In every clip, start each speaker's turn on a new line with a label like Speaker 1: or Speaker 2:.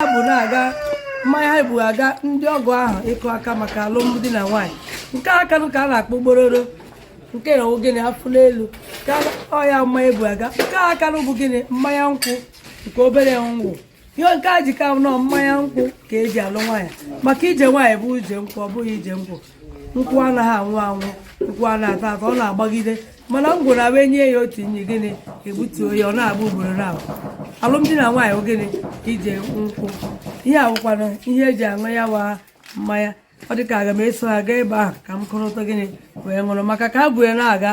Speaker 1: ha bu na-aga mmanya ha bu aga ndị ọgọ ahụ ịkụ aka maka alụmdi na nwaanyị nke aka nụ ka a na-akpọ gbororo nke ya gịnị afụ n'elu ka ọ ya mmanya bu aga nke aka nụ bụ gịnị mmanya nkwụ nke obere ngwọ ihe nke a ji ka nọ mmanya nkwụ ka eji alụ nwaanyị maka ije nwaanyị bụ ije nkwụ ọ bụghị ije ngwọ nkwụ anaghị anwụ anwụ nkwụ a na-ata ata ọ na-agbagide mana ngwọ na-abụ e nye ya otu nyi gịnị egbutuo ya ọ na-agba ugboro na alụmdi na nwaanyị gịnị ije nkwụ ihe a wụkwana ihe eji aṅụ ya wa mmanya ọ dịka aga m eso ha gaa ebe ahụ ka m kụrụta gịnị wee ṅụrụ maka ka ha bu ya na-aga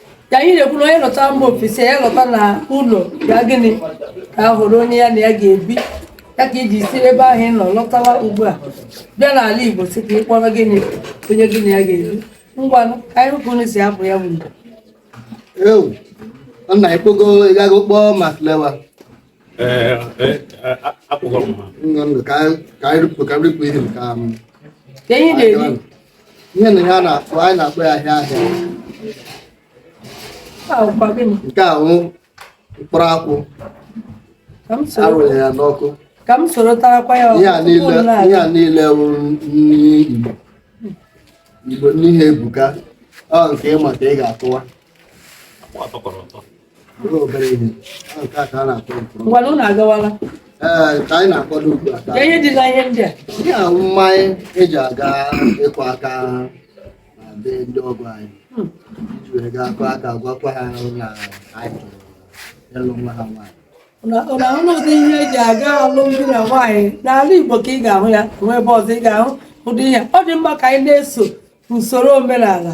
Speaker 2: ya
Speaker 1: anyị na-ekwu na onye lọta mba ofesi ya lọta na ụlọ ya gịnị ka a hụrụ onye ya na ya ga-ebi ya ka iji si ebe ahụ ị nọ lọtawa ugbu a bịa n'ala Igbo si ka ị kpọrọ gịnị onye gị na ya ga-ebi ngwanụ ka anyị hụ ka unu si apụ ya bụ
Speaker 3: nna ekpogo ịgago kpọọ ma klewa
Speaker 2: ihe na ya
Speaker 3: na-akpọ anyị
Speaker 1: na-akpọ ya
Speaker 3: ahịa ahịa
Speaker 1: nke a wụ
Speaker 3: mkpụrụ akwụ a rụrụ ya n'ọkụ ka m
Speaker 1: soro tarakwa ya
Speaker 3: ihe a niile wụ nri igbo igbo n'ihe ebuka ọ nke ịma ka ị ga-akụwa ngwanụ unu
Speaker 1: agawala ka
Speaker 3: anyị na-akwado ugbu a ka ihe dị na
Speaker 1: ihe ndị a ihe a mmanya
Speaker 3: eji aga ịkụ aka na be ndị ọgọ anyị iji were gaa kụọ aka gwakwa ha na anyị chọrọ ịlụ nwa ha nwaanyị ụna ahụ ụdị
Speaker 1: ihe eji aga alụmdi na nwaanyị n'ala Igbo ka ị ga-ahụ ya nwe ebe ọzọ ị ga-ahụ ụdị ihe ọ dị mma ka anyị na-eso usoro omenala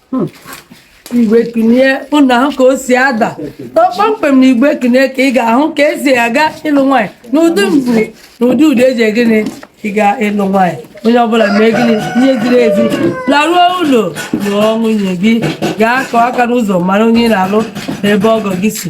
Speaker 1: hmm. igwe kunie ụnụ ahụ ka o si ada kpọmkwem na igwe kunie ka ị ga-ahụ ka esi aga ịlụ nwaanyị n'ụdị mbụ na ụdị udu eji gịnị ị ga ịlụ nwaanyị onye ọbụla mee gịnị ihe ziri ezi laruo ụlọ lụọ nwunye gị gaa kụọ aka n'ụzọ mara onye ị na-alụ na ebe ọgọ gị si